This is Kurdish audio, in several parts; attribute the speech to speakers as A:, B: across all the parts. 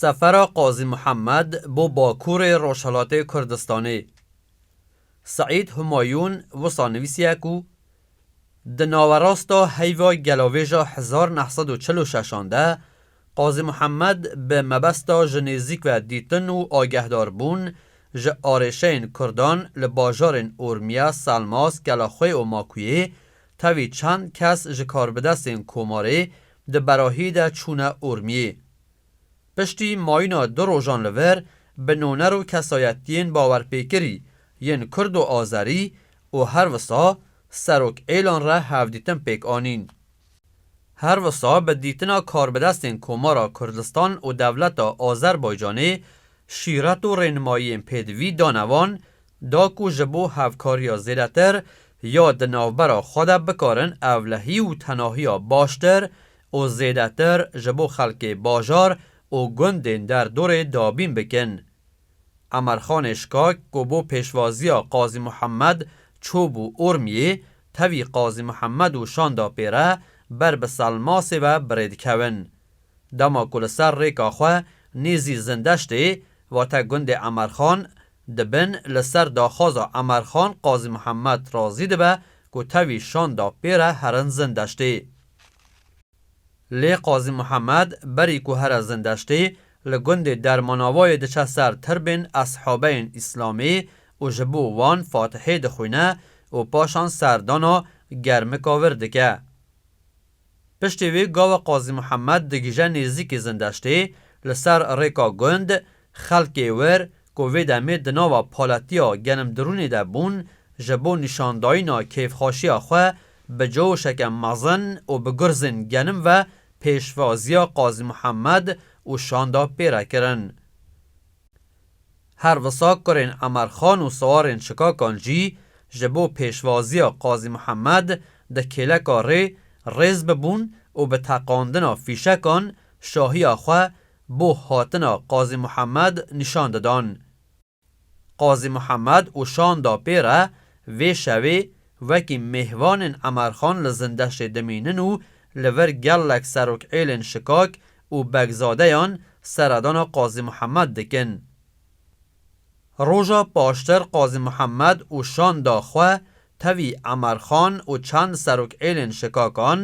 A: Sefera Qazî Mihemed bo Bakurê Rojhilatê Kurdistanê Seîd Humayûn wisa nivîsiye ku Di nawerasta heyva gelavêja hezar neh sed û çil û şeş an de, Qazî Muhemmed bi mebesta ji nêzîk ve dîtin û agehdarbûn ji arêşeyên kurdan li bajarên Urmiye, Selmas, Kelaxwê û Makuyê tevî çend kes ji karbidestên Komarê di berahî de çûne Urmiyê. Piştî mayîna du rojan li vir bi noner û kesayetiyên bawerpêkirî yên kurd û azerî û her wisa serok êlan re hevdîtin pêk anîn. Her wisa bi dîtina karbidestên Komara Kurdistan û dewleta Azerbaycanê şîret û rênimayiyên pêdivî dane wan da ku ji bo hevkariya zêdetir ya di navbera xwe de bikarin evlehî û tenahiya baştir û zêdetir ji bo xelkê bajar û gundên derdorê dabîn bikin. Emerxanê Şikak ku bo pêşvaziya Qazî Muhemed çûbû Urmiyê, tevî Qazî Muhemed û şanda pê re ber bi Selmasê ve birê dikevin. Dema ku li ser rêka xwe nêzî Zindeştê, vate gundê Emerxan, di bin li ser daxwaza Emerxan Qazî Muhemed razî dibe ku tevî şanda pê re herin Zindeştê. Lê Qazî Muhemed berî ku here Zindeştê li gundê Dermanavayê diçe ser tirbên eshabeyên Îslamê û ji bo wan Fatihê dixwîne û paşan serdana Germika Vir dike. Piştî wê gawa Qazî Muhemed digije nêzîkî Zindeştê li ser rêka gund Xelkê wir ku vê demê di nava palatiya Genimdirûnê de bûn, ji bo nîşandayîna kêfxweşiya xwe bi coşeke mezin û bi gurzên genim ve pêşvaziya Qazî Mihemed û şanda pê re kirin. Her wisa kurên Emerxan û sawarên Çikakan jî ji bo pêşvaziya Qazî Mihemed di kêleka rê rêz bibûn û bi teqandina fîşekan şahiya xwe bo hatina Qazî Muhemed nîşan didan. Qazî Muhemed û şanda pê re vê şevê wekî mêvanên Emerxan li Zindeştê dimînin û li vir gelek serokêlên şikak û begzadeyan seredana Qazî Muhemed dikin. Roja paştir Qazî Mihemed û şanda xwe tevî Emer Xan û çend serokêlên şikakan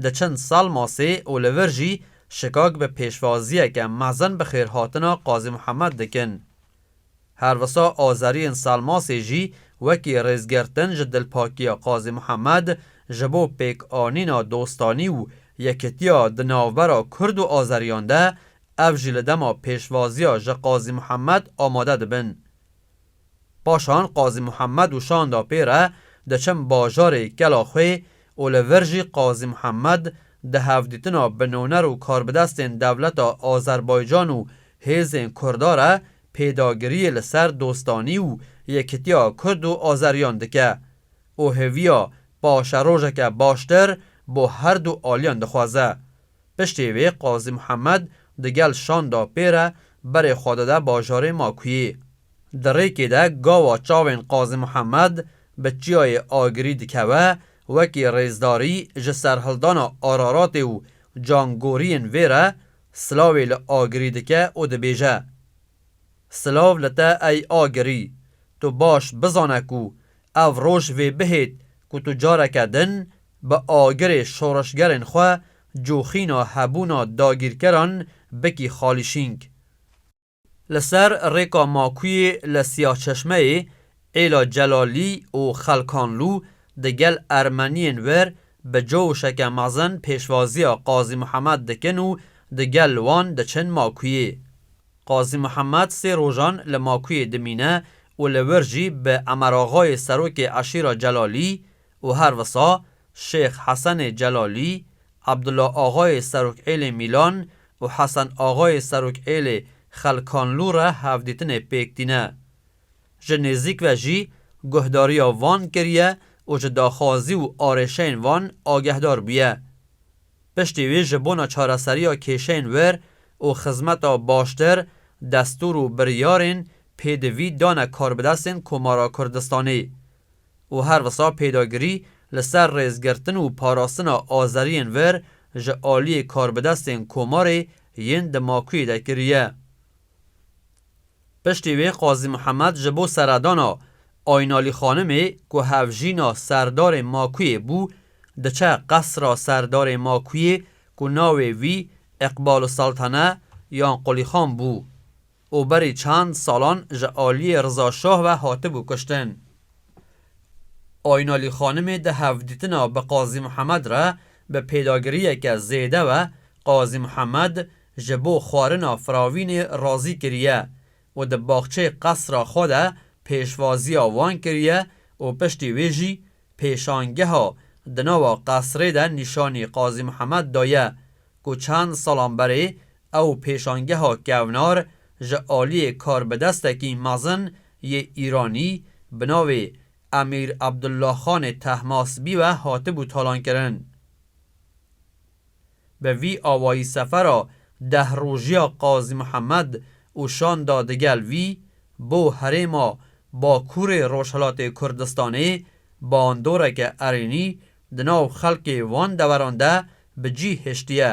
A: diçin Salmasê û li vir jî şikak bi pêşvaziyeke mezin bi xêrhatina Qazî Mihemed dikin. Her wisa azeriyên Salmasê jî wekî rêzgirtin ji dilpakiya Qazî Mihemed ji bo pêkanîna dostanî û yekitiya di navbera kurd û azeriyan de ev jî li dema pêşvaziya ji Qazî Muhemed amade dibin. Paşan Qazî Muhemed û şanda pê re diçin bajarê Kelaxwê û li vir jî Qazî Muhemed di hevdîtina binoner û karbidestên dewleta Azerbaycan û hêzên Kurda re pêdagiriyê li ser dostanî û yekitiya Kurd û Azeriyan dike û hêviya paşerojeke baştir bo herdu aliyan dixwaze. Piştê wê Qazî Muhemed di gel şanda pê re berê xwe dide bajarê Makuyê. Di rêkê de gawa çavên Qazî Muhemed bi çiyayê Agirî dikeve wekî rêzdarî ji serhildana Araratê û cangoriyên vê re silavê li Agirî dike û dibêje, Silav li te ey Agirî, tu baş bizane ku ev roj vê bihêt ku tu careke din bi agirê şoreşgerên xwe coxîna hebûna dagîrkeran bikî xalîşîng. Li ser rêka makuyê li Siyahçeşmeyê, Êla Celalî û Xelkanlû di gel Ermeniyên wir bi cowşeke mezin pêşvaziya Qazî Mihemed dikin û di gel wan diçin makuyê. Qazî Mihemed sê rojan li makuyê dimîne û li wir jî bi Emeraxayê serokê eşîra Celalî, û her wisa Şêx Hesenê Celalî, Abdula Axayê Serokêlê Mîlan û Hesen Axayê Serokêlê Xelkanlû re hevdîtinê pêk tîne. Ji nêzîk ve jî guhdariya van kiriye û ji daxwazî û arêşeyên van agehdar bûye. Piştî wî ji bona çareseriya kêşeyên wir û xizmeta baştir destûr û biryarên pêdivî dane karbidestên Komara Kurdistanê. û her wisa pêdagirî li ser rêzgirtin û parastina azeriyên vir ji aliyê karbidestên Komarê yên di Makuyê de kiriye. Piştî wê Qazî Mihemed ji bo seredana Aynalî Xanimê ku hevjîna Serdarê Makuyê bû diçe qesra Serdarê Makuyê ku navê wî Îqbaluseltene yan Qulîxan bû. û berî çend salan ji aliyê Riza Şah ve hatibû kuştin. Aynalî Xanimê di hevdîtina bi Qazî Mihemed re bi pêdagiriyeke zêde ve Qazî Mihemed ji bo xwarina firavînê razî kiriye û di baxçeyê qesra xwe de pêşvaziya wan kiriye û piştî wê jî pêşangeha di nava qesrê de nîşanî Qazî Mihemed daye ku çend salan berê Ew pêşangeha kevnar ji aliyê karbidestekî mezin yê Îranî bi navê Emîr Abdullahxanê Tehmasbî ve hatibû talankirin. Bi vî awayî sefera deh rojiya Qazî Mihemed û şanda digel vî bo herêma Bakurê Rojhilatê Kurdistanê bandoreke erênî di nav xelkê van deveran de bi cî hiştiye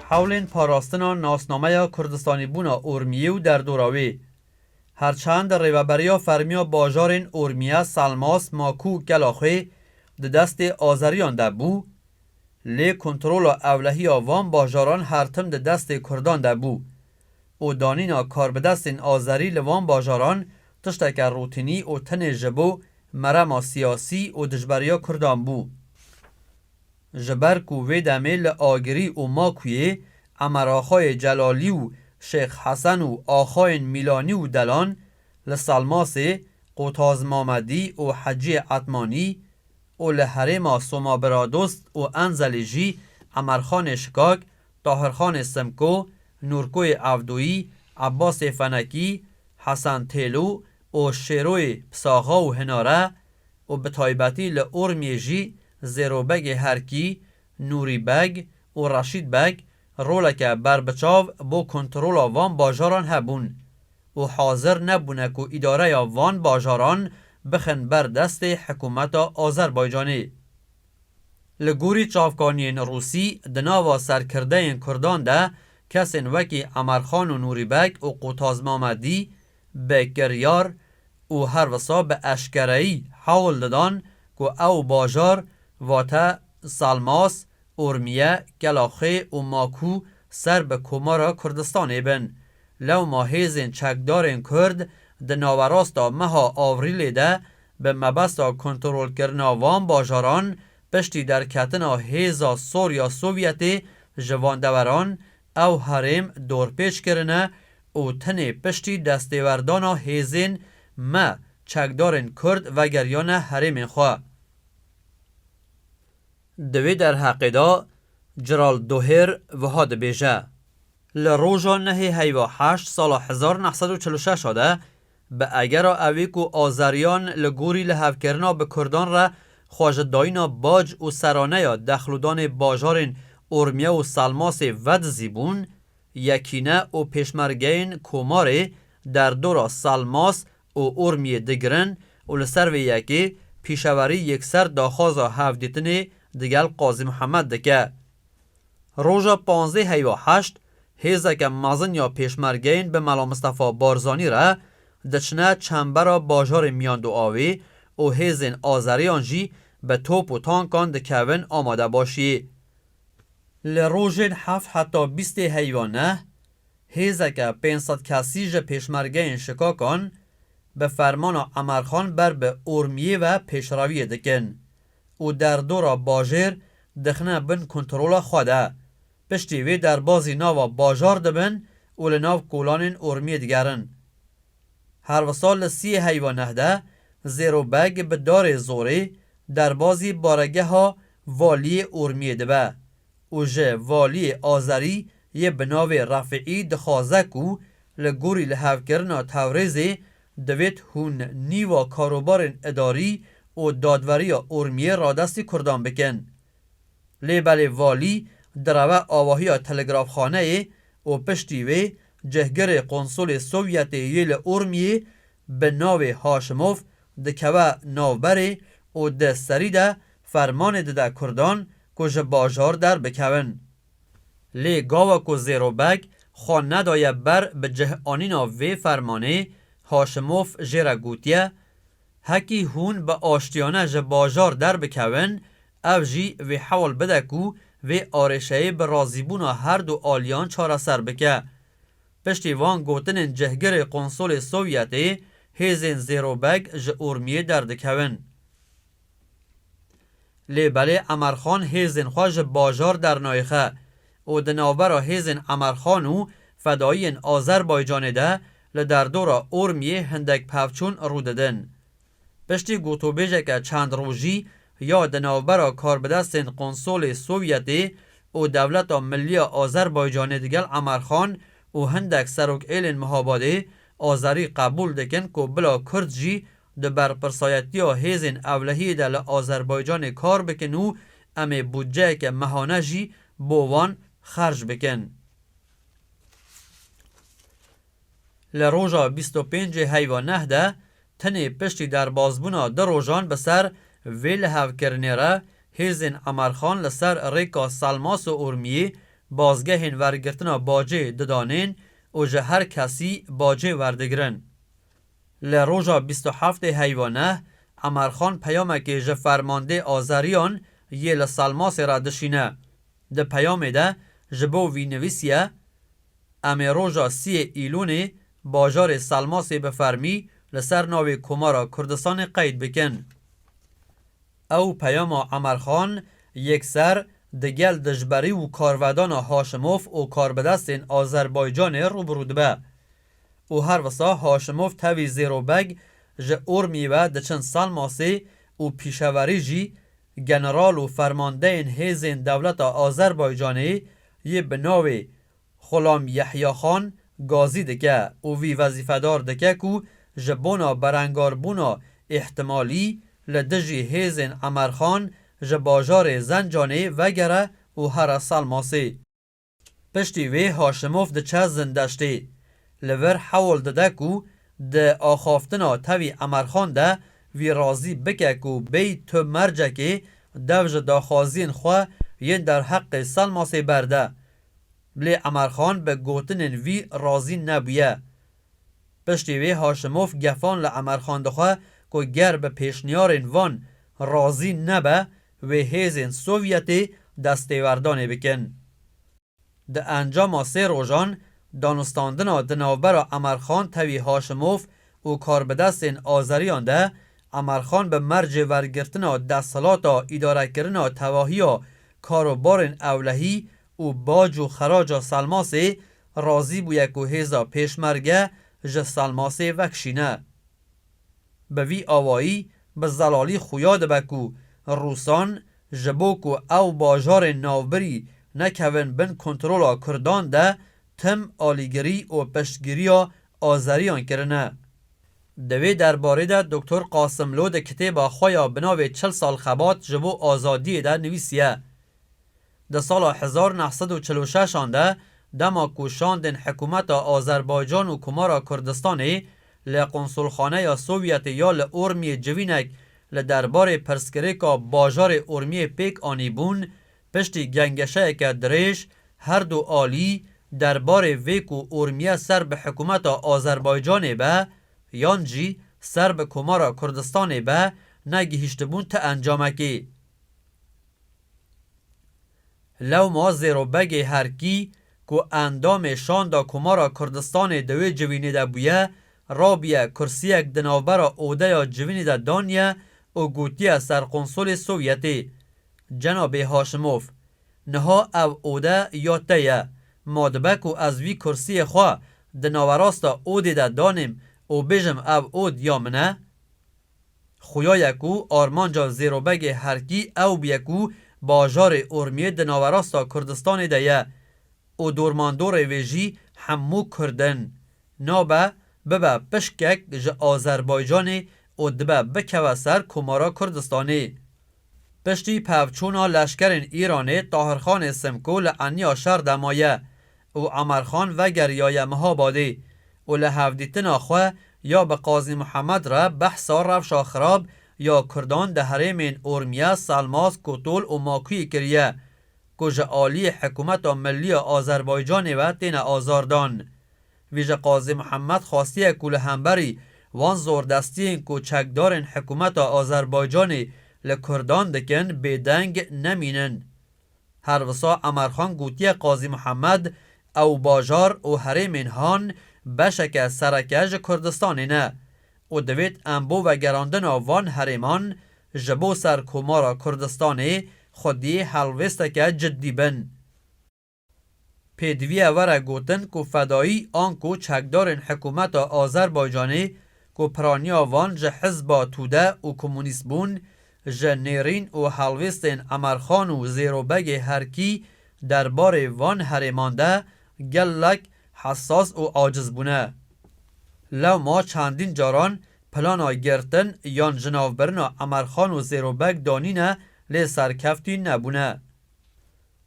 A: Hewlên parastina nasnameya Kurdistanîbûna Urmiyê û derdora wê. Her çend rêveberiya fermiya bajarên Urmiye, Selmas, Maku û Kelaxê di destê Azeriyan de bû, lê kontrola ewlehiya van bajaran her tim di destê Kurdan de bû û danîna karbidestên Azerî li van bajaran tişteke rûtînî û tenê ji bo merema siyasî û dijberiya Kurdan bû. Ji ber ku vê demê li Agirî û Makuyê Emeraxayê Celalî û Şêx Hesen û axayên Mîlanî û Delan, li Salmasê Qotaz Mamedî û Heciyê Etmanî û li herêma Somabiradost û Enzelî jî Emerxanê Şikak, Tahirxanê Simko, Nûrkoyê Evdoyî, Ebbasê Fenekî, Hesen Têlo û Şêroyê Pisaxa û Hinare û bi taybetî li Urmiyê jî Zêrobegê Herkî, Nûrî Beg û Reşîd Beg roleke berbiçav bo kontrola van bajaran hebûn û hazir nebûne ku îdareya van bajaran bixin ber destê hikûmeta Azerbaycanê. Li gorî çavkaniyên rûsî di nava serkirdeyên kurdan de kesên wekî Emerxan û Nûrî Beg û Qutaz Mamedî bi kiryar û her wisa bi eşkereyî hewl didan ku ew bajar, vate Salmas, Urmiye, Kelaxê û Maku ser bi Komara Kurdistanê bin. Lewma hêzên çekdarên Kurd di nawerasta meha Avrîlê de bi mebesta kontrolkirina van bajaran piştî derketina hêza Sorya Sovyetê ji van deweran Ew herêm dorpêç kirine û tenê piştî destêwerdana hêzên me çekdarên Kurd vegeriyane herêmên xwe. Di wê derheqê de Ceral Dohêr wiha dibêje, Li roja nehê heyva heşt sala hezar neh sed û çil û şeş de Bi agera ewê ku Azeriyan li gorî lihevkirina bi Kurdan re xwe ji dayîna bac û seraneya dexlûdanê bajarên Urmiye û Salmasê vedizî bûn, Yekîne û pêşmergeyên Komarê derdora Salmas û Urmiyê digirin û li ser vê yekê pîşewerî yekser daxwaza hevdîtinê digel Qazî Mihemed dike. Roja panzdeh heyî û heşt hêzeke mezin ya pêşmergeyên bi Mela Mistefa Barzanî re diçine çembera bajarê Miyandoavê û hêzên azeriyan jî bi top û tankan dikevin amadebaşiyê. Li rojên heft heta bîstê heyî û neh hêzeke pênc sed kesî ji pêşmergeyên Şikakan bi fermana Emerxan ber bi Urmiyê ve pêşrewiyê dikin. û derdora bajêr dixine bin kontrola xwe de. Piştî vê derbazî nava bajar dibin û li nav kolanên Urmiyê digerin. Her wisa li siyê heyva neh de Zêro Beg bi darê zorê derbazî baregeha Valiyê Urmiyê dibe û ji Valiyê Azerî yê bi navê Refîî dixwaze ku li gorî lihevkirina Tewrêzê Divêt hûn nîva karobarên idarî û dadweriya Urmiyê radestî kurdan bikin. Lê belê valî direve avahiya telegrafxaneyê û piştî wê cihgirê qonsulê Sovyetê yê li Urmiyê bi navê Haşimov dikeve navberê û di serî de fermanê dide kurdan ku ji bajar derbikevin. Lê gawa ku Zêrobek xwe nedaye ber bi cihanîna vê fermanê, Haşimof jê re gotiye, Hekî hûn bi aştiyane ji bajar derbikevin, ev jî vê hewl bide ku vê arêşeyê bi razîbûna her du aliyan çareser bike. Piştî van gotinên cihgirê Qonsolê Sovyetê, hêzên Zêrobek ji Urmiyê derdikevin. Lê belê Emerxan hêzên xwe ji bajar dernayixe û di navbera hêzên Emerxan û fedaiyên Azerbaycanê de li derdora Urmiyê hindek pevçûn rû didin. Piştî gotûbêjeke çend rojî ya di navbera karbidestên Konsolê Sovyetê û Dewleta Milliya Azerbaycanê digel Emerxan û hindek serokêlên Mihabadê, Azerî qebûl dikin ku bila Kurd jî Di berpirsayetiya hêzên ewlehiyê de li Azerbaycanê kar bikin û em ê bûtceyeke mehane jî bo wan xerc bikin. Li roja bîst û pêncê heyva neh de tenê piştî derbasbûna du rojan bi ser vê lihevkirinê re hêzên Emerxan li ser rêka Selmas û Urmiyê bazgehên wergirtina bacê didanên û ji her kesî bacê werdigirin. Li roja bîst û heftê heyvane, Emerxan peyamekê ji fermandê Azeriyan yê li Salmasê re dişîne. Di peyamê de ji bo vî nivîsiye, Em ê roja siyê Îlûnê bajarê Salmasê bi fermî li ser navê Komara Kurdistanê qeyd bikin. Ew peyama Emerxan yekser di gel dijberî û karvedana Haşimof û karbidestên Azerbaycanê rûbirû dibe. Û her wisa Haşimov tevî Zêro Beg ji Urmî ve diçin Salmasê û pîşeverî jî general û fermandeyên hêzên dewleta Azerbaycanê yê bi navê Xulam Yehyaxan gazî dike û vî wezîfedar dike ku ji bona berengarbûna îhtimalî li dijî hêzên Emerxan ji bajarê Zencanê vegere û here Salmasê. Piştî wê Haşimov diçe zindeştê. Li vir hewl dide ku di axaftina tevî Emerxan de wî razî bike ku bêy tu mercekê dev ji daxwaziyên xwe yên derheqê Selmasê berde. Lê Emerxan bi gotinên wî razî nebûye. Piştî wê Haşimov gefan li Emerxan dixwe ku ger bi pêşniyarên van razî nebe, wê hêzên Sovyetê destêwerdanê bikin. Di encama sê rojan danûstandina di navbera Emerxan Tevî Haşimov û karbidestên Azeriyan de, Emerxan bi mercê wergirtina desthilata îdarekirina tevahiya karobarên ewlehî û bac û xeraca Selmasê razî bûye ku hêza Pêşmerge ji Selmasê vekişîne. Bi vî awayî bi zelalî xuya dibe ku Rûsan ji bo ku ew bajarên navbirî nekevin bin kontrola Kurdan de tim alîgirî û piştgiriya Azeriyan kirine. Di vê derbarê de Doktor Qasimlo di kitêba xwe ya bi navê Çil sal xebat ji bo azadiyê de nivîsiye, Di sala hezar neh sed û çil û şeş an de dema ku şandên hikûmeta Azerbaycan û Komara Kurdistanê li Konsulxaneya Sovyetê ya li Urmiyê civînek li derbarê pirsgirêka bajarê Urmiyê pêk anîbûn, piştî gengeşeyeke dirêj her du alî derbarê vê ku Urmiye ser bi hikûmeta Azerbaycanê be yan jî ser bi Komara Kurdistanê be negihîştibûn ti encamekê. Lewma zêro begê her kî ku endamê Şanda Komara Kurdistanê di wê civînê de bûye, rabûye kursiyek di navbera odeya civînê de daniye û gotiye Serqonsolê Sovyetê, Cenabê Haşimov, niha ev ode ya te ye, ma dibe ku ez vî kursiyê xwe di nawerasta odê de danêm û bêjim ev od ya min e? Xuya ye ku armanca Zêrobegê Herkî ew bûye ku bajarê Urmiyê di nawerasta Kurdistanê de ye û dormandorê wê jî hemû Kurd in. Nabe bibe pişkek ji Azerbaycanê û dibe bikeve ser Komara Kurdistanê. Piştî pevçûna leşkerên Îranê Tahirxanê Simkû li eniya şer de maye û Emerxan vegeriyaye Mihabadê û li hevdîtina xwe ya bi Qazî Mihemed re behsa rewşa xirab ya Kurdan di herêmên Urmiye, Selmaz, Kutûl û Makuyê kiriye ku ji aliyê Hikûmeta Millî ya Azerbaycanê ve têne azardan. Vî ji Qazî Mihemed xwastiye ku li hemberî wan zordestiyên ku çekdarên hikûmeta Azerbaycanê li Kurdan dikin bêdeng nemînin. Her wisa Emerxan gotiye Qazî Mihemed ew bajar û herêmên han beşeke sereke ji Kurdistanê ne û divêt em bo vegerandina van herêman ji bo ser Komara Kurdistanê xwediyê helwêsteke cidî bin. Pêdiviya were gotin ku fedayî anku çekdarên hikûmeta Azerbaycanê ku piraniya van ji hizba Tude û komûnîst bûn, ji nêrîn û helwêstên Emerxan û Zêrobegê herkî derbarê van herêman de gelek hesas û aciz bûne. Lewma çendîn caran plana girtin yan jinavbirina Emerxan û Zêrobeg danîne lê serkeftî nebûne.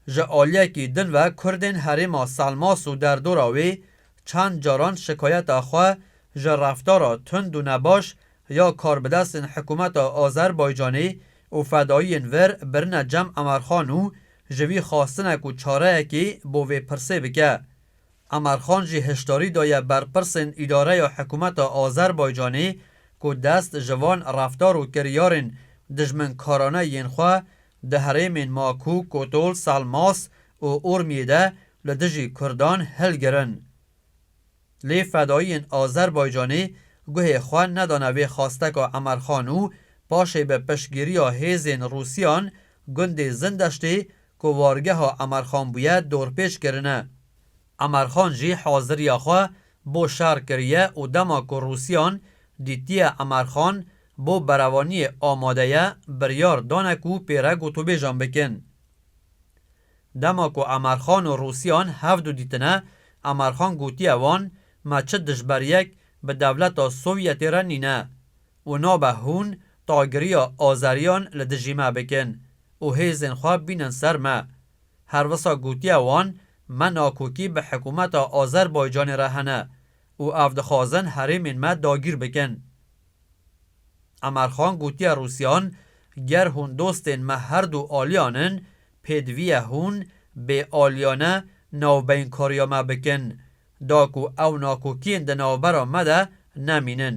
A: Ji aliyekî din ve Kurdên herêma Selmas û derdora wê çend caran şikayeta xwe ji reftara tund û nebaş ya karbidestên hikûmeta Azerbaycanê û fedaiyên vir birine Cem Emerxan û ji wî xwastine ku çareyekê bo vê pirsê bike. Emerxan jî hişdarî daye berpirsên îdareya hikûmeta Azerbaycanê ku dest ji van reftar û kiryarên dijminkarane yên xwe Di herêmên Maku, Kotol, Salmas û Urmiyê de li dijî Kurdan hilgirin. Lê fedaiyên Azerbaycanê guhê xwe nedane vê xwasteka Emerxan û paşê bi piştgiriya hêzên Rûsiyan gundê Zindeştê ku wargeha Emerxan bûye dorpêç kirine. Emarxan jî haziriya xwe bo şer kiriye û dema ku Rûsyan dîtiye Emarxan bo berevaniyê amade ye, biryar dane ku pê re gotûbêjan bikin. Dema ku Emarxan û Rûsyan hev du dîtine, Emarxan gotiye wan, Me çi dijberiyek bi dewleta Sovyetê re nîne û nabe hûn tagiriya Azeriyan li dijî me bikin û hêzên xwe bînin ser me. Her wisa gotiya wan, me nakokî bi hikûmeta Azerbaycanê re hene û ev dixwazin herêmên me dagîr bikin. Emerxan gotiye Rûsyan, ger hûn dostên me her du aliyan in, pêdivî ye hûn, bê aliyane, navbeynkariya me bikin, da ku ew nakokiyên di navbera me de nemînin.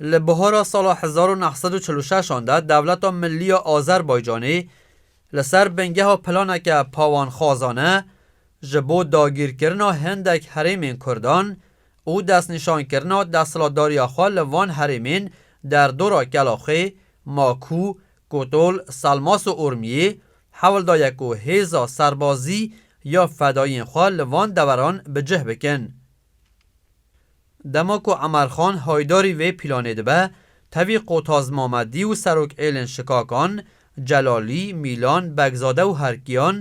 A: Li bihara sala hezar û neh sed û çil û şeş an de Dewleta Millî ya Azerbaycanê li ser bingeha planeke pawanxwazane ji bo dagîrkirina hindek herêmên Kurdan û destnîşankirina desthilatdariya xwe li van herêmên derdora Kelaxê, Makû, Kotol, Selmas û Urmiyê hewl daye ku hêza serbazî ya fedayîyên xwe li van deveran bi cih bikin. Dema ku Emarxan haydarî vê pîlanê dibe, tevî Qotaz Mamedî û serokêlên Şikakan, Celalî, Mîlan, Begzade û Herkiyan,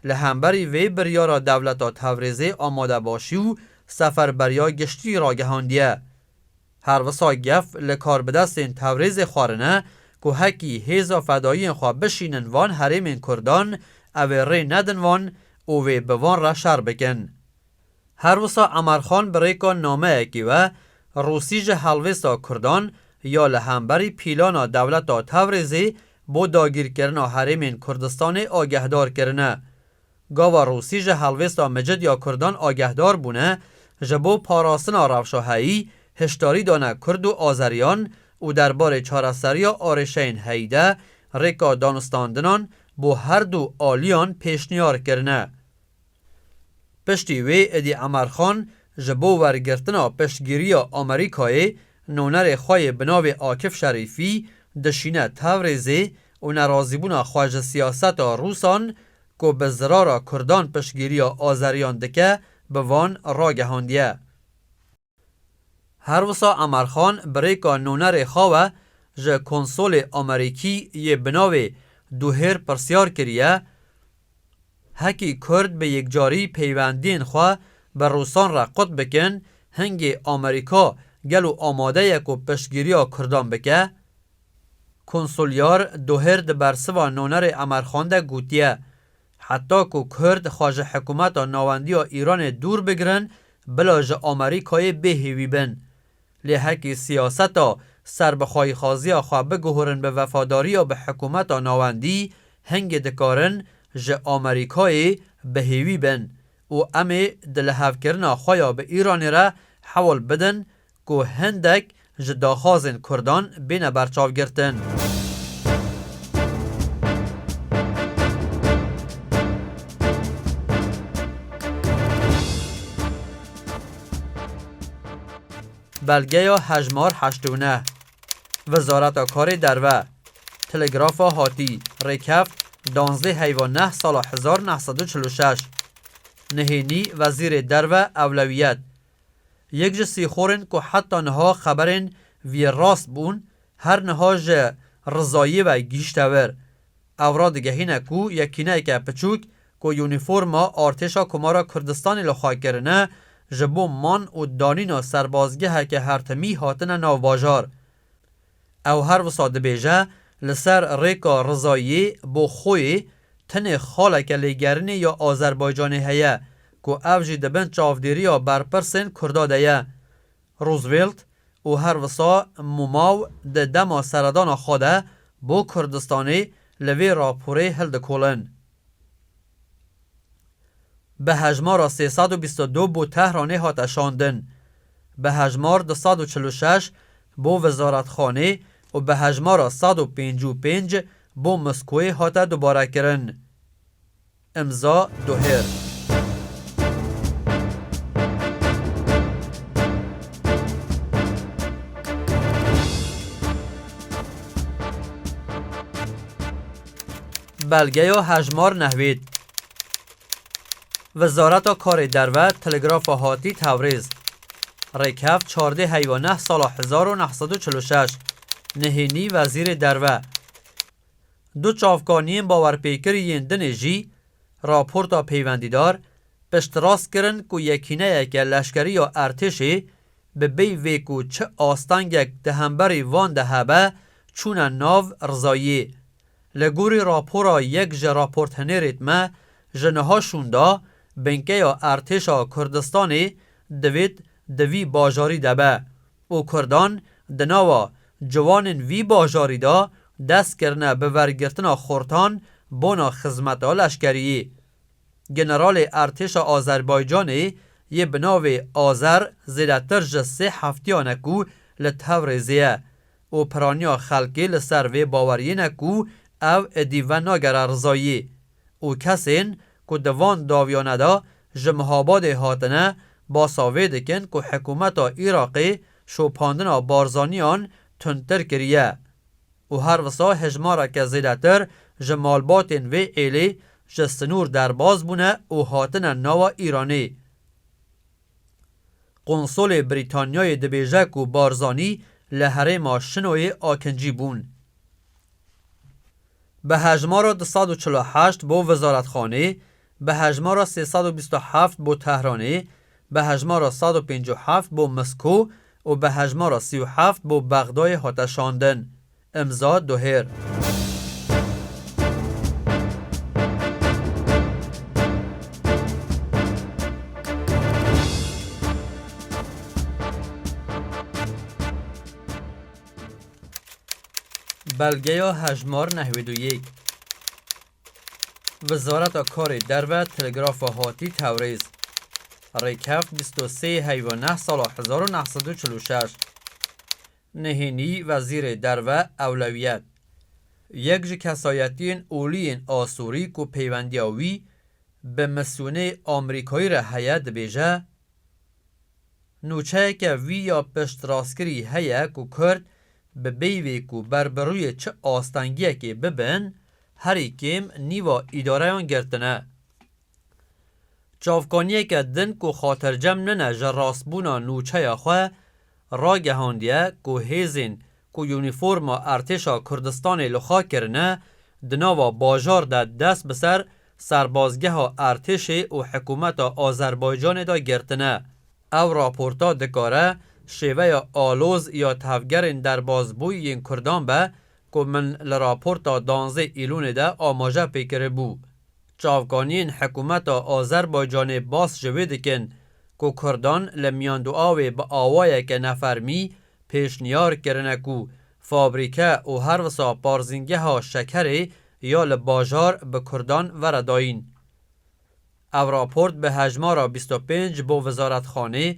A: li hemberî vê biryara dewleta Tevrêzê amadebaşî û seferberiya giştî ragihandiye. Her wisa gef li karbidestên Tevrêzê xwarine ku hekî hêza fedayiyên xwe bişînin van herêmên Kurdan, ew ê rê nedin wan û wê bi van re şer bikin. Her wisa Emarxan bi rêka nameyekî we Rûsî ji helwêsta Kurdan ya li hemberî pîlana dewleta Tewrêzê bo dagîrkirina herêmên Kurdistanê agehdar kirine. Gava Rûsî ji helwêsta micid ya Kurdan agehdar bûne, ji bo parastina rewşa heyî hişdarî dane Kurd û Azeriyan û derbarê çareseriya arêşeyên heyî de rêka danûstandinan bo her du aliyan pêşniyar kirine. Piştî wê êdî Emarxan ji bo wergirtina piştgiriya Amerîkayê nonerê xwe yê bi navê Akif Şerîfî dişîne Tewrêzê û nerazîbûna xwe ji siyaseta Rûsan ku bi zirara Kurdan piştgiriya Azeriyan dike bi van ragihandiye. Her wisa Amarxan bi rêka nûnerê xwe ve ji konsolê Amerîkî yê bi navê Duhêr pirsyar kiriye, Hekî Kurd bi yekcarî peywendiyên xwe bi Rûsan re qut bikin, hingê Amerîka gelo amade ye ku piştgîriya Kurdan bike? Konsolyar Duhêr di bersiva nûnerê Amarxan de gotiye, Heta ku Kurd xwe ji hikumeta navendî ya Îranê dûr bigirin, bila ji Amerîkayê bêhêwî bin. Lê hekî siyaseta serbixwayîxwaziya xwe biguhurin bi vefadariya bi hikumeta navendî, hingê dikarin ji Amerîkayê bi hêwî bin û em ê di lihevkirina xwe ya bi Îranê re hewl bidin ku hindek ji daxwazên Kurdan bîne berçavgirtin. Belgeya hejmar heşt û neh. Wizareta Karê Derve. Telegrafa hatî, rêkeft, danzdê heyva neh sala hezar neh sed û çil û şeş. Nihênî Wezîrê Derve ewlewiyet. Yek ji sîxorên ku heta niha xeberên vî rast bûn, her niha ji rizayî ve gihîşte wir. Ev radigehîne ku yekîneyeke piçûk ku yûnîforma Artêşa Komara Kurdistanê li xwe kirine, ji bo man û danîna serbazgeheke hertimî hatine nav bajar. Ew her wisa dibêje li ser rêka rizayiyê bo xwê tenê xaleke lêgerinê ya Azerbaycanê heye ku ev jî di bin çavdêriya berpirsên Kurda de ye. Roosevelt û her wisa Mumaw di dema seredana xwe de bo Kurdistanê li vê raporê hildikolin. Bi hejmara sê sed û bîst û du bo Tehranê hate şandin, bi hejmar du sed û çil û şeş bo Wizaretxanê û bi hejmara sed û pêncî û pênc bo Moskoyê hate dubarekirin. Imza Duhêr. Belgeya hejmar nehwît. Wizareta Karê Derve Telegrafa Hatî Tewrêz Rêkhev çardê heywa neh sala hezar û neh sed û çil û şeş nihênî Wezîrê Derve du çavkaniyên bawerpêkirî yên dinê jî raporta peywendîdar piştrast kirin ku yekîneyeke leşkerî ya Ertêşê bi bêy vê ku çi astengek di hemberî van de hebe çûne nav rizayiyê Li gorî rapora yek ji raporthenêrêt me ji niha şûnda, binkeya Ertêşa Kurdistanê divêt di vî bajarî de be û Kurdan di nava ciwanên vî bajarî de dest kirine bi wergirtina xortan bona xizmeta leşkeriyê. Generalê Ertêşa Azerbaycanê yê bi navê Azer zêdetir ji sê heftiyan e ku li Tewrêzê ye û piraniya xelkê li ser vê baweriyê ne ku ev êdî venagere rizayî û kesên ku di van dawiyane de ji Mihabadê hatine basa vê dikin ku hikûmeta Iraqê şopandina Barzaniyan tundtir kiriye û her wisa hejmareke zêdetir ji malbatên vê êlê ji sinûr derbas bûne û hatine nawa Îranê. Konsolê Brîtanyayê dibêje ku Barzanî li herêma Şinoyê akincî bûn. Bi hejmara du sed û çil û heşt bo Wizaretxanê, bi hejmara sê sed û bîst û heft bo Tehranê, bi hejmara sed û pêncî û heft bo Misko û bi hejmara sî û heft bo Bexdayê hate şandin. Imza Duhêr. Belgeya hejmar nehwîd û yek. Wizareta Karê Derve Telegrafa Hatî Tewrêz Rêkeft bîst û sê Heywa neh sala hezar û neh sed û çil û şeş Nihênî Wezîrê Derve Ewlewiyet, yek ji kesayetiyên olî yên Asûrî ku peywendiya wî bi misyonê Amerîkayî re heye dibêje, Nûçeyeke wî ya piştrastkirî heye ku Kurd bi peyvê ku ber bi rûyê çi astengiyekê bibin, herî kêm nîva îdareyan girtine. Çavkaniyeke din ku xatircem nine ji rastbûna nûçeya xwe, ragihandiye ku hêzên ku unîforma Ertêşa Kurdistanê li xwe kirine, di nava bajar de dest bi ser serbazgeha Ertêşê û hikûmeta Azerbaycanê de girtine. Ev raporta dikare şêveya aloz ya tevgerên derbasbûyî yên Kurdan be ku min li raporta danzdeh Îlûnê de amaje pê kiribû. Çavkaniyên hikûmeta Azerbaycanê bas ji wê dikin ku kurdan li Miyanduawê bi awayeke nefermî pêşniyar kirine ku fabrîke û her wisa parzîngeha şekerê ya li bajar bi kurdan vere dayîn. Ev raport bi hejmara bîst û pênc bo Wizaretxanê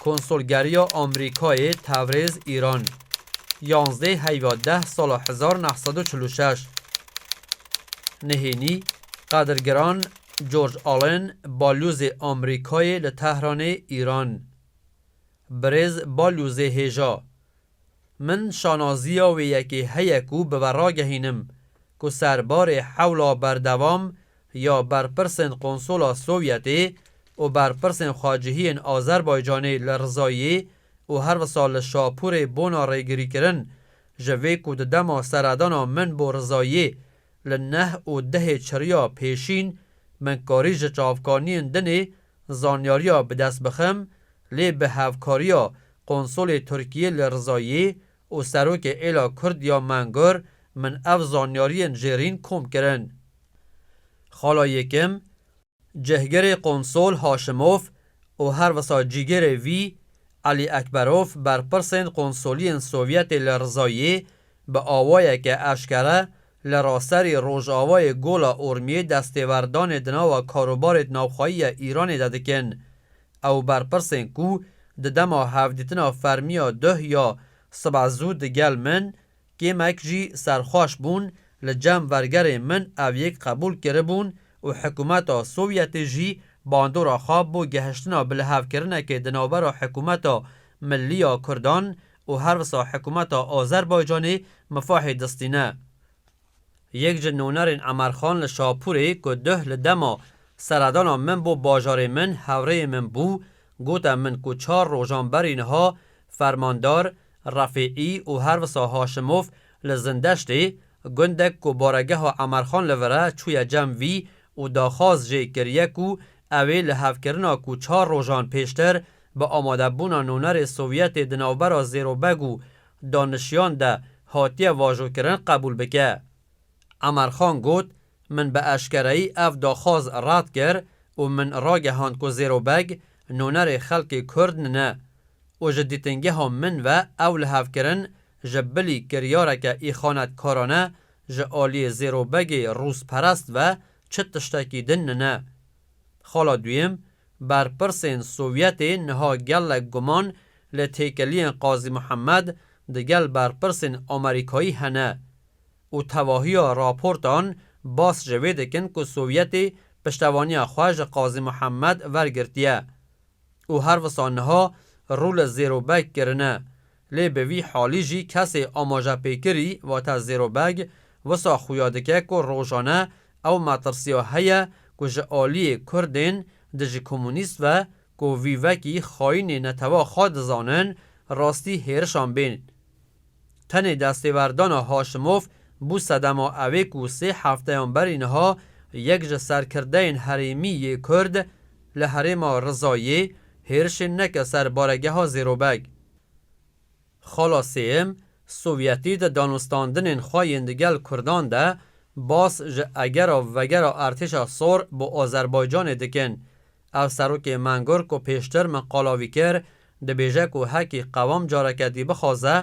A: Konsolgeriya Amerîkayê Tewrêz, Îran, yanzdeh heyva deh sala hezar neh sed û çil û şeş Nihênî, Qadirgiran George Allen, Balyozê Amerîkayê li Tehranê, Îran, Birêz Balyozê Hêja Min şanaziya wê yekê heye ku bi we ragehînim ku ser barê hewla berdewam ya berpirsên Qonsola Sovyetê û berpirsên xwecihiyên Azerbaycanê li Rizayê û her wisa li Şapûrê bona rêgirîkirin ji vê ku di dema seredana min bo Rizayê li neh û dehê çiriya pêşîn min karî ji çavkaniyên dinê zanyariya bi dest bixim lê bi hevkariya Konsolê Tirkiyê li Rizayê û Serokê Êla Kurd ya Mengur min ev zanyariyên jêrîn kom kirin. Xala yekim, Cihgirê Konsol Haşimov û her wisa cîgirê wî Elî Ekberov berpirsên konsoliyên Sovyetê li Rizayê bi awayeke eşkere li raserî Rojavayê Gola Urmiyê destêwerdanê di nava karobarêd navxwayî ya Îranê de dikin Ew berpirsên ku di dema hevdîtina fermî ya duh ya sibe zû digel min kêmek jî serxweş bûn, li cem vergerên min ev yek qebûl kiribûn û hikûmeta Sovyetê jî bandora xwe bo gehiştina bilihevkirinekê di navbera hikûmeta Millî ya Kurdan û herwisa hikûmeta Azerbaycanê mifahê distîne. Yek ji nonerên Emerxan li Şapûrê ku duh li dema seredana min bo bajarê min hevrêyê min bû, gote min ku çar rojan berî niha Fermandar, Refîî û her wisa Haşimof li Zindeştê, gundek ku baregeha Emerxan li vir e, çûye cem vî û daxwaz jê kiriye ku ew ê li hevkirina ku çar rojan pêştir bi amadebûna nonerê Sovyetê di navbera Zêrobeg û danişiyan de hatiye vajokirin qebûl bike. Emer Xan got, Min bi eşkereyî ev daxwaz red kir û min ragehand ku Zêro Beg nonerê xelkê Kurd ne û ji dîtingeha min ve ew lihevkirin ji bilî kiryareke îxanetkarane ji aliyê Zêro Begê rûsperest ve çi tiştekî din ne. Xala duyem, berpirsên Sovyetê niha gelek guman li têkeliyên Qazî Muhemed digel berpirsên Amerîkayî hene û tevahiya raportan bas ji vê dikin ku Sovyetê piştevaniya xwe ji Qazî Muhemed wergirtiye û her wisa niha rû li Zêrobek kirine Lê bi vî halî jî kesê amajepêkirî vate Zêro Beg wisa xuya dike ku rojane ew metirsiya heye ku ji aliyê Kurdên dijîkomûnîst ve ku vî vekî xayînê netewa xwe dizanin rastî hêrişan bên. Tenê destêwerdana Haşimov bû sedema ewê ku sê hefteyan berî niha yek ji serkirdeyên herêmî yê Kurd li herêma Rizayê hêrişên neke ser baregeha Zêro Beg. Xala sêyem, Sovyetî di danûstandinên xwe yên di gel kurdan de bas ji egera vegera Artêşa Sor bo Azerbaycanê dikin. Ev serokê Mengor ku pêştir min qala wî kir, dibêje ku hekî qewam careke dî bixwaze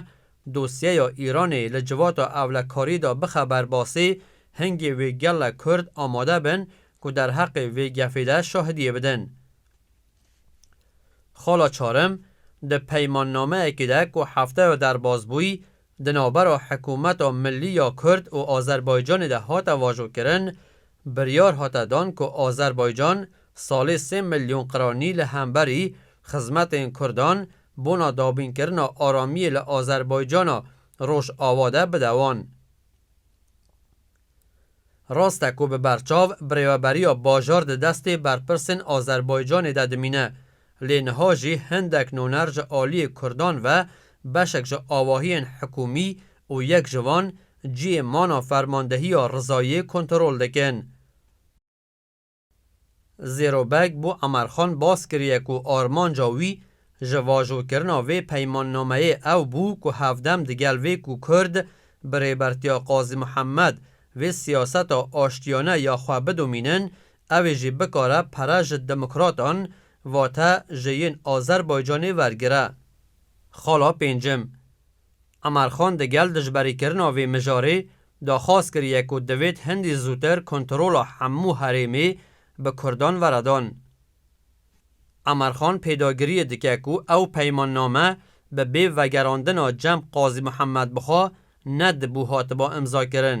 A: dosyeya Îranê li civata ewlekarî de bixe ber basî, hingê wê gelek Kurd amade bin ku derheqê vê gefê de şahidiyê bidin. Xala Çarim di peymannameyekê de ku hefteya derbasbûyî di navbera Hikûmeta Millî ya Kurd û Azerbaycanê de hate vajokirin, biryar hate dan ku Azerbaycan salê sê milyon qiranî li hemberî xizmetên Kurdan bona dabînkirina aramiyê li Azerbaycana Rojava de bide wan. Rast e ku bi berçav birêveberiya bajar di destê berpirsên Azerbaycanê de dimîne, lê niha jî hindek noner ji aliyê kurdan ve beşek ji awahiyên hikûmî û yek ji van cihê mana fermandehiya Rizayê kontrol dikin. Zêrobeg bo Emerxan baz kiriye ku armanca wî ji vajokirina vê peymannameyê ew bû ku hevdem digel vê ku Kurd bi rêbertiya Qazî Mihemed vê siyaseta aştiyane ya xwe bidomînin ew ê jî bikare pere ji demokratan vate ji yên Azerbaycanê wergire. Xala pêncim. Emarxan di gel dijberîkirina vê mijarê daxwaz kiriye ku divêt hindî zûtir kontrola hemû herêmê bi kurdan were dan. Emarxan pêdagiriyê dike ku ew peymanname bi bê vegerandina cem Qazî Muhemmed Buxa ne dibû hatiba imzakirin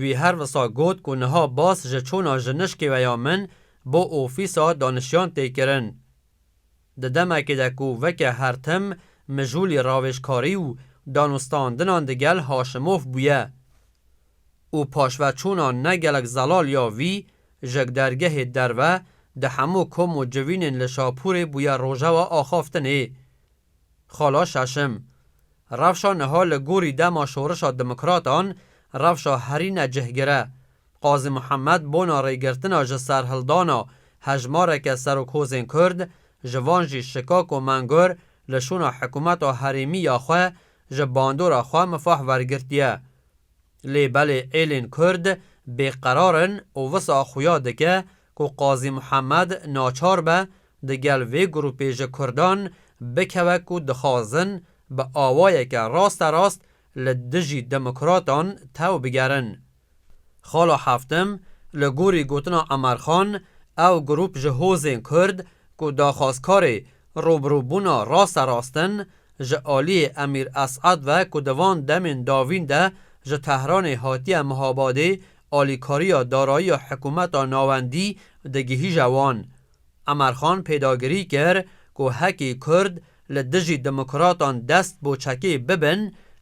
A: Wî her wisa got ku niha bas ji çûna ji nişkêweya min bo ofîsa danişiyan tê kirin. Di demekê de ku weke her tim mijûlî ravêjkarî û danûstandinan digel Haşimof bûye û paşveçûna ne gelek zelal ya wî ji dergehê derve di hemû kom û civînên li Şapûrê bûye rojewa axaftinê. Xala Şaşim, Rewşa niha li gorî dema şorişa demokratan rewşa herî necihgir e. Qazî Muhemed bona rêgirtina ji serhildana hejmareke serokhozên Kurd, ji van jî Şikako Mengur li şûna hikûmeta herêmî ya xwe ji bandora xwe mifah wergirtiye. Lê belê êlên Kurd bêqerar in û wisa xuya dike ku Qazî Muhammed naçar be di gel vê grûpê ji Kurdan bikeve ku dixwazin bi awayeke rasterast li dijî demokratan tew bigerin. Xala Heftim, Li gorî gotina Emer Xan, ew grûp ji hozên Kurd ku daxwazkarê rûbirûbûna rasterast in, ji aliyê Emîr Es'ed ve ku di van demên davîn de ji Tehranê hatiye Mihabadê alîkariya darayiya hikumeta navendî digihîje wan. Emerxan pêdagirî kir ku hekî kurd li dijî demokratan dest bo çekê bibin,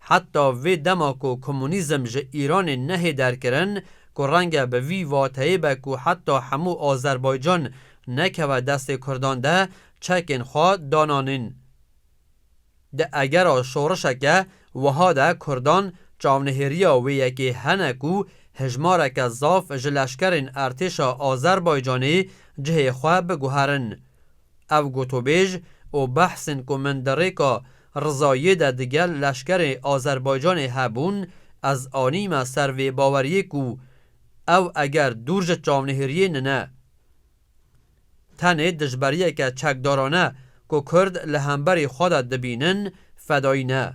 A: heta vê dema ku komunîzm ji Îranê nehê derkirin ku renge bi vî vateyê be ku heta hemû Azerbaycan nekeve destê kurdan de çekên xwe dananîn. Di egera şorişeke wiha de kurdan çavnehêriya wê yekê hene ku hejmareke zaf ji leşkerên Ertêşa Azerbaycanê cihê xwe biguherin. Ev gotûbêj û behsên ku min di rêka Rizayiyê de digel leşkerê Azerbaycanê hebûn ez anîme ser vê baweriyê ku ew eger dûr ji çavnehêriyê nine, Tenê dijberiyeke çekdarane ku Kurd li hemberî xwe de dibînin fedayî ne.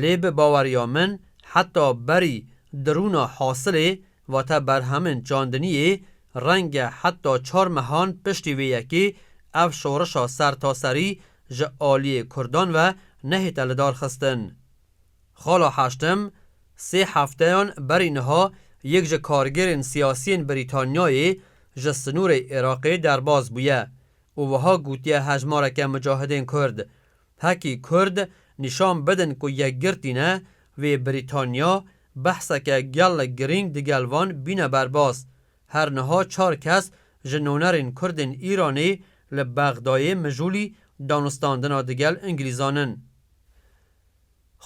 A: Lê bi baweriya min heta berî dirûna hasilê vate berhemên çandiniyê renge heta çar mehan piştî vê yekê ev şorişa sertaserî ji aliyê Kurdan ve nehête lidarxistin. Xala Haştim, sê hefteyan berî niha yek ji kargerên siyasiyên Brîtanyayê ji sinûrê Iraqê derbas bûye û wiha gotiye hejmareke mucahidên Kurd, Hekî Kurd nîşan bidin ku yekgirtî ne, wê Brîtanya behseke gelek girîng digel van bîne berbas. Her niha çar kes ji nonerên Kurdên Îranê li Bexdayê mijûlî danûstandina digel Ingilîzan in.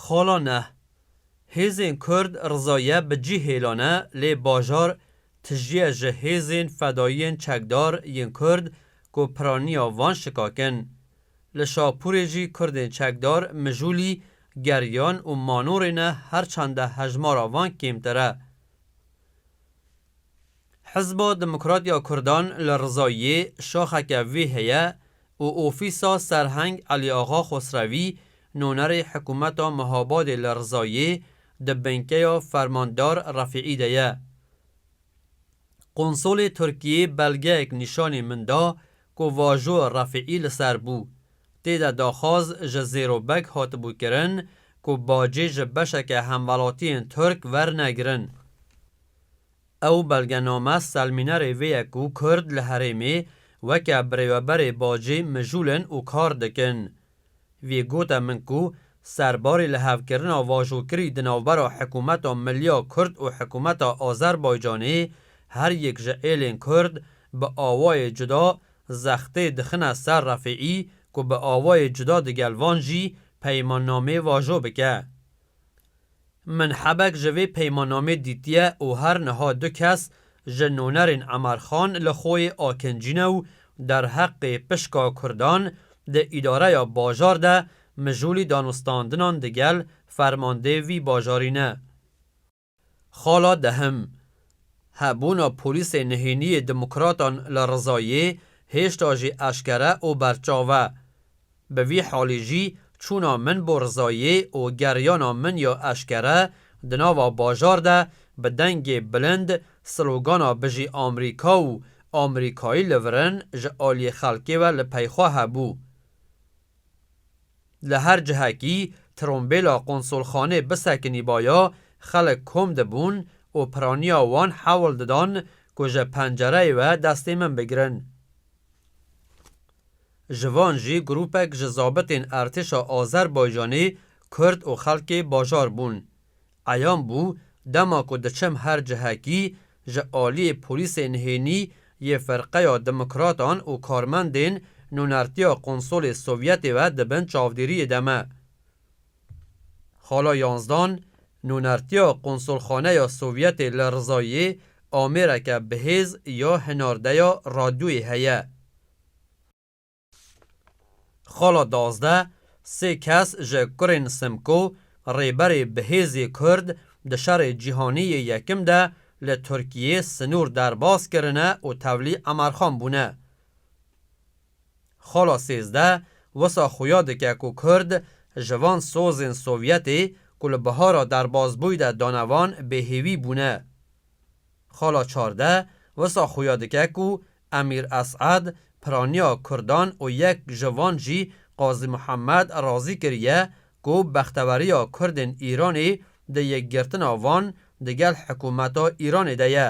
A: Xala neh. Hêzên Kurd rizaye bi cih hêlane lê bajar tijîye ji hêzên fedayiyên çekdar yên Kurd ku piraniya van şikakin. Li Şapûrê jî Kurdên çekdar mijûlî, geriyan û manorê ne her çende hejmara van kêmtir e. Hizba Demokrat ya Kurdan li Rizayê şaxeke vê heye û ofîsa Serheng Elîaxa Xosrewî, nonerê Hikûmeta Mihabadê li Rizayê di binkeya Fermandar Refîî de ye. Qonsolê Tirkiyê belgeyek nîşanî min da ku vajo Refîî li ser bû. Tê de daxwaz ji Zêro Beg hatibû kirin ku bacê ji beşeke hemwelatiyên Tirk wernegirin. Ew belgename selmînerê vê ye ku Kurd li herêmê weke birêveberê bacê mijûlin û kar dikin. Vî gote min ku serbarê lihevkirina vajokirî di navbera Hikûmeta Milliya Kurd û Hikûmeta Azerbaycanê her yek ji êlên Kurd bi awayê cuda zextê dixine ser Refîî ku bi awayê cuda digel van jî peymannamê vajo bike. Min hebek ji vê peymannamê dîtiye û her niha du kes ji nûnerên Emer Xan li Xoyê akincîne û derheqê pişka Kurdan di îdareya bajar de mijûlî danûstandinan digel fermandê vî bajarî ne. Xala dehim, Hebûna polîsê nihêniyê demokratan li Rizayê hêşta jî eşkere û berçav e. Bi vî halî jî çûna min bo rizayê û geriyana min ya eşkere di nava bajar de bi dengê bilind slogana Bijî Amrîka û Amrîkayî li virin ji aliyê xelkê ve li pey xwe hebû. Li her cihekî trombêla qonsolxanê bisekinîbaya xelk kom dibûn û piraniya wan hewl didan ku ji pencereyê ve destê min bigirin. Ji van jî grûpek ji zabitên Ertêşa Azerbaycanê Kurd û xelkê bajar bûn. Eyan bû dema ku diçim her cihekî ji aliyê polîsên hênî yê Firqeya Demokratan û karmendên nûnertiya Konsolê Sovyetê ve di bin çavdêriyê de me. Xala Yansdan, Nûnertiya Konsolxaneya Sovyetê li Rizayê amêreke bihêz ya hinardeya radyoyê heye. Xala Dazdeh, Sê kes ji kurên Simko, rêberê bihêzê Kurd di Şerê Cîhanî yê Yekim de li Tirkiyê sinûr derbas kirine û tevlî emarxan bûne. Xala sêzdeh wisa xuya dike ku Kurd ji van sozên Sovyetê ku li bihara derbasbûyî de dane van bêhêwî bûne. Xala çardeh wisa xuya dike ku Emîr Es'ed piraniya Kurdan û yek ji van jî Qazî Muhemed razî kiriye ku bexteweriya Kurdên Îranê di yekgirtina van digel hikûmeta Îranê de ye.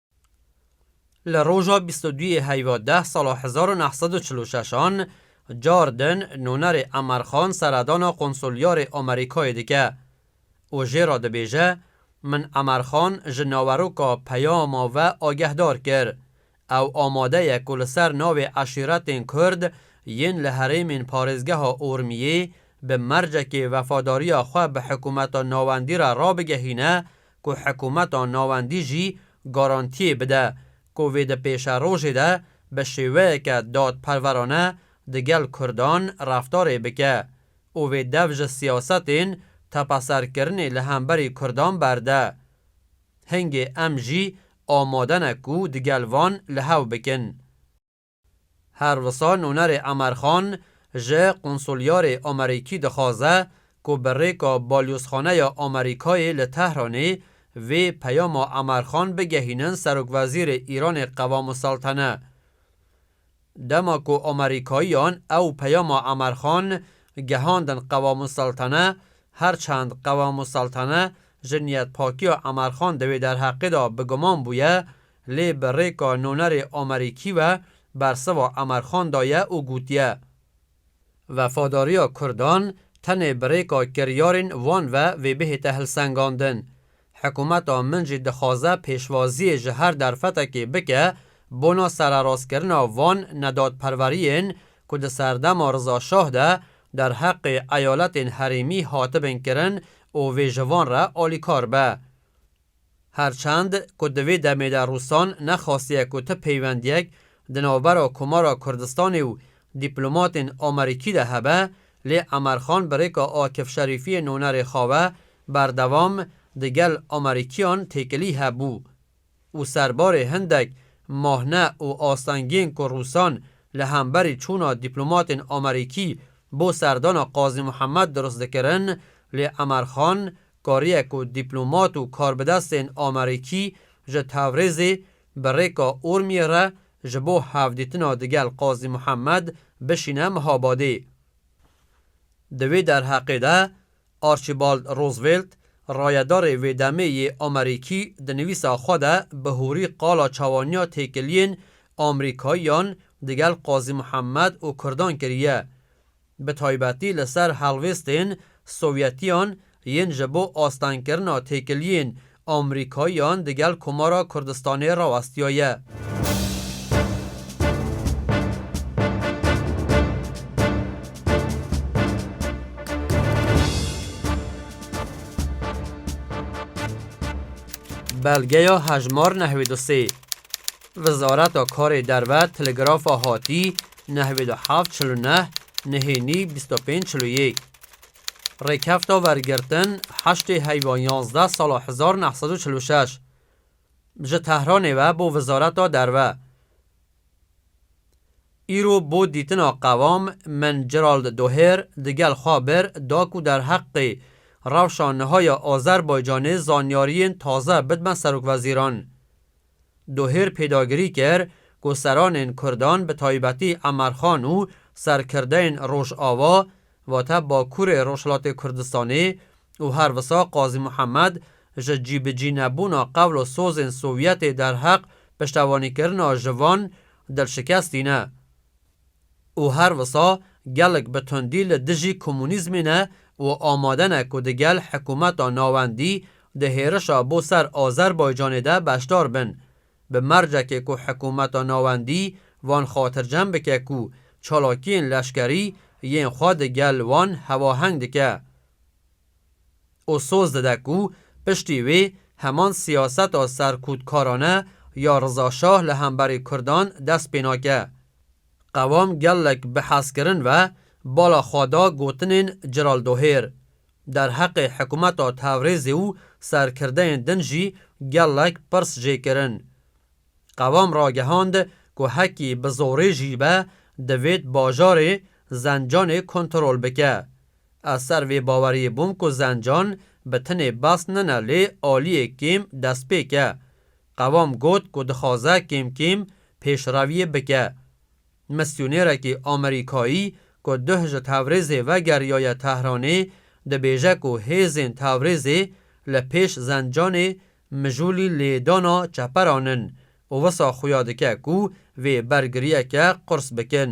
A: Li roja bîst û duyê heyva deh sala hezar û neh sed û çil û şeş an car din nûnerê Emer Xan seredana Konsulyarê Amerîkayê dike û jê re dibêje, Min Emer Xan ji naweroka peyama ve agehdar kir. Ew amade ye ku li ser navê eşîretên Kurd yên li herêmên parêzgeha Urmiyê bi mercekê wefadariya xwe bi hikûmeta navendî re rabigehîne ku hikumeta navendî jî garantiyê bide ku vê di pêşerojê de bi şêweyeke dadperwerane digel kurdan reftarê bike û vê dev ji siyasetên tepeserkirinê li hemberî kurdan berde. Hingê em jî amade ne ku digel van li hev bikin. Her wisa nûnerê Amer Xan ji Qonsulyarê Amerîkî dixwaze ku bi rêka Balyozxaneya Amerîkayê li Tehranê vê peyama Amer Xan bigehînin Serokwezîrê Îranê Qewamûseltene. Dema ku Amerîkayiyan ew peyama Amer Xan gehandin Qewamûseltene, her çend Qewamûseltene ji niyetpakiya Amer Xan di wê derheqê de bi guman bûye, Lê bi rêka nonerê Amerîkî ve bersiva Emerxan daye û gotiye, Wefadariya kurdan tenê bi rêka kiryarên wan ve vê bihête hilsengandin. Hikûmeta min jî dixwaze pêşwaziyê ji her derfetekê bike bona sererastkirina van nedadperweriyên ku di serdema Riza Şah de derheqê eyaletên herêmî hatibin kirin û vê ji van re alîkar be. Her çend ku di vê demê de Rûsan nexwastiye ku ti peywendiyek di navbera Komara Kurdistanê û dîplomatên Amerîkî de hebe, lê Emerxan bi rêka Akif Şerîfiyê nonerê xwe ve berdewam di gel Amerîkiyan têkilî hebû û serbarê hindek mahne û astengiyên ku Rûsan li hemberî çûna dîplomatên Amerîkî bo serdana Qazî Muhemed dirust dikirin, lê Emerxan kariye ku dîplomat û karbidestên Amerîkî ji Tewrêzê bi rêka Urmiyê re ji bo hevdîtina digel Qazî Muhemed bişîne Mihabadê. Di wê derheqê de Archibald Roosevelt, rayedarê wê demê yê Amerîkî di nivîsa xwe de bi hûrî qala çawaniya têkiliyên Amrîkayiyan digel Qazî Muhemed û Kurdan kiriye. bi taybetî li ser helwêstên Sowyetiyan yên ji bo astengkirina têkiliyên Amrîkayiyan di gel Komara Kurdistanê rawestiyaye. Belgeya hejmar nehwê du sê. Wizareta Karê Derve Telegrafa Hatî nehwê du heft çil û neh nihênî bîst û pênc çil û yek Rêkefta wergirtin heştê heywa yanzdeh sala hezar û neh sed û çil û şeş ji Tehranê ve bo Wizareta Derve Îro bo dîtina qevam min Gerald Doher digel xwe bir da ku derheqê rewşa niha ya Azerbaycanê zanyariyên taze bidme Serokwezîran. Dohêr pêdagirî kir ku seranên Kurdan bi taybetî Emerxan û serkirdeyên Rojava, vate Bakurê Rojhilatê Kurdistanê û her wisa Qazî Muhemed ji cîbicînebûna qewl û sozên Sovyetê derheq piştevanîkirina ji van dilşikestî ne. û her wisa gelek bi tundî li dijî komûnîzmê ne û amade ne ku di gel hikumeta navendî di hêrişa bo ser Azerbaycanê de beşdar bin. Bi mercekê ku hikumeta navendî wan xatircem bike ku çalakiyên leşkerî yên xwe di gel wan hewaheng dike. û soz dide ku piştî wê heman siyaseta serkûtkarane ya Riza Şah li hemberî Kurdan dest pê nake. Qewam gelek bi hezkirin ve bala xwe da gotinên Celal Dohêr. Derheqê hikûmeta Tewrêzê û serkirdeyên din jî gelek pirs jê kirin. Qewam ragehand ku hekî bi zorê jî be divêt bajarê Zencanê kontrol bike. Ez ser vê baweriyê bûm ku Zencan bi tinê behs nine lê aliyê kêm destpêk e. Qewam got ku dixwaze kêm kêm pêşreviyê bike. Misyonêrekî Amerîkayî ku duh ji Tewrêzê vegeriyaye Tehranê dibêje ku hêzên Tewrêzê li pêş Zencanê mijûlî lêdana çeperan in û wisa xuya dike ku vê bergiriyeke qurs bikin.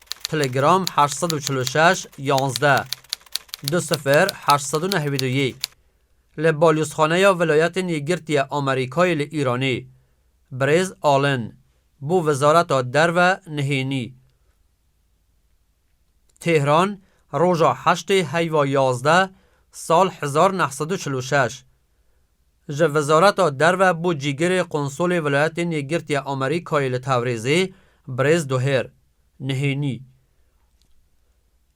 A: Telegram heşt sed û çil û şeş yanzdeh du sifir heşt sed û neh Vîdyoyî Li Balyozxaneya Vilayetên Yekgirtî ya Amerîkayê li Îranê Birêz Allen bo Wezareta Derve nihênî Tehran roja heştê heyva yazdeh sal hezar neh sed û çil û şeş Ji Wezareta Derve bo Cîgirê Qonsolê Welayetên Yekgirtiya Amerîkayê li Tewrêzê Birêz Doher Nihênî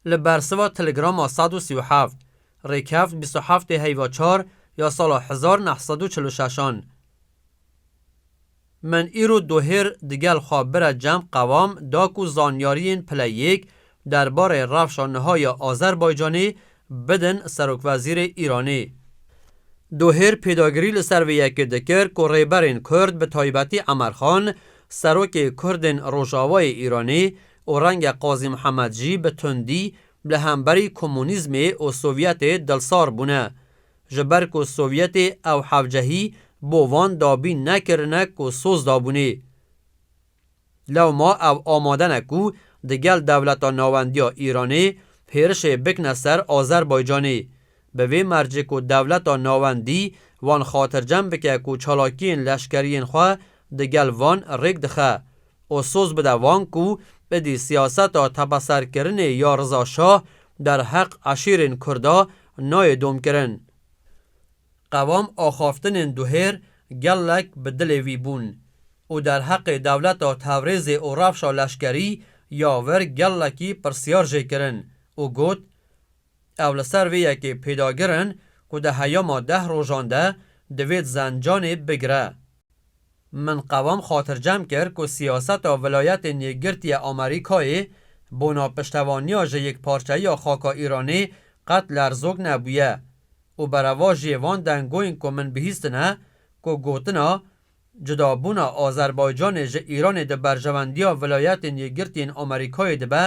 A: li bersiva Telegrama sed û sî û heft rêkeft bîst û heftê heyva çar ya sala hezar neh sed û çil û şeş an Min îro dohêr digel xwe bira cem qevam da ku zanyariyên pile yêk derbarê rewşa niha ya Azerbaycanê bidin serokwezîrê Îranê. Dohêr pêdagirî li ser vê yekê dikir ku rêberên kurd bi taybetî Emer Xan, serokê kurdên rojavayê Îranê û renge Qazî Mihemed jî bi tundî li hemberî komunîzmê û Sovyetê dilsar bûne Ji ber ku Sovyetê ew hevcehî bo van dabîn nekirine ku soz dabûnê. Lewma ew amade ne ku di gel dewleta nawendiya Îranê hêrişê bikne ser Azerbaycanê. Bi vê mercê ku dewleta nawendî wan xatircem bike ku çalakiyên leşkeriyên xwe di gel van rêk dixe, û soz bide wan ku êdî siyaseta tepeserkirinê ya Riza Şah derheq eşîrên Kurda nayê domkirin. Qevam axaftinên duhêr gelek bi dilê wî bûn û derheqê dewleta Tewrêzê û rewşa leşkerî ya wir gelekî pirsyar jê kirin û got, Ew li ser vê yekê pêdagir in ku di heyama deh rojan de divêt zencanê bigire. Min qevam xatircem kir ku siyaseta Vilayetên Yekgirtiye Amerîkayê bona piştevaniya ji yekparçeyiya xaka Îranê qet lerzok nebûye û berevajiyê van dengoyên ku min bihîstine ku gotina Cudabûna Azerbaycanê ji Îranê di berjewendiya Vilayetên Yekgirtiyên Amerîkayê de be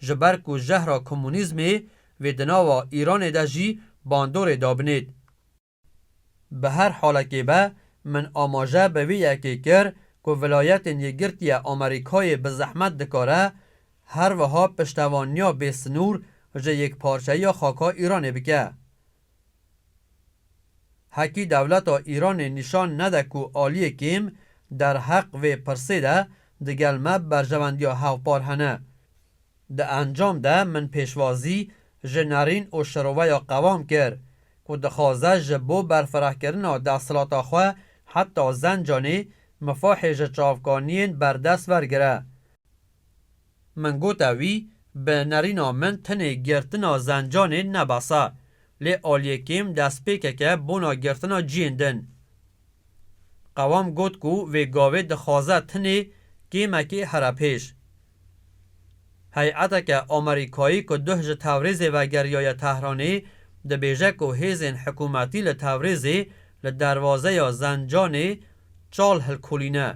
A: ji ber ku jehra komunîzmê vê di nava Îranê de jî bandorê dabinêt. Bi her halekê be, min amaje bi vî yekê kir ku Vilayetên Yekgirtiye Amerîkayê bi zehmet dikare her wiha piştevaniya bê sinûr ji yekparçeyiya xaka Îranê bike. Hekî dewleta Îranê nîşan nede ku aliyê kêm derheq vê pirsê de digel me berjewendiya hevpar hene, Di encam de min pêşwazî ji Nerîn û Şiroveya Qewam kir ku dixwaze ji bo berfirehkirina desthilata xwe heta Zencanê mifahê ji çavkaniyên berdest wergire. Min gote wî bi nerîna min tenê girtina Zencanê ne behsa, lê aliyê kêm destpêkeke bona girtina ciyên din. Qewam got ku vê gavê dixwaze tenê kêmekê here pêş. Heyeteke Amerîkayî ku duh ji Tewrîzê vegeriyaye Tehranê, dibêje ku hêzên hikûmetî li Tewrîzê li derwazeya Zencanê çal hilkolîne.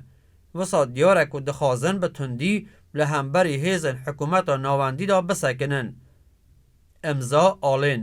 A: Wisa diyar e ku dixwazin bi tundî li hemberî hêzên hikûmeta navendî de bisekinin. Îmza Alên.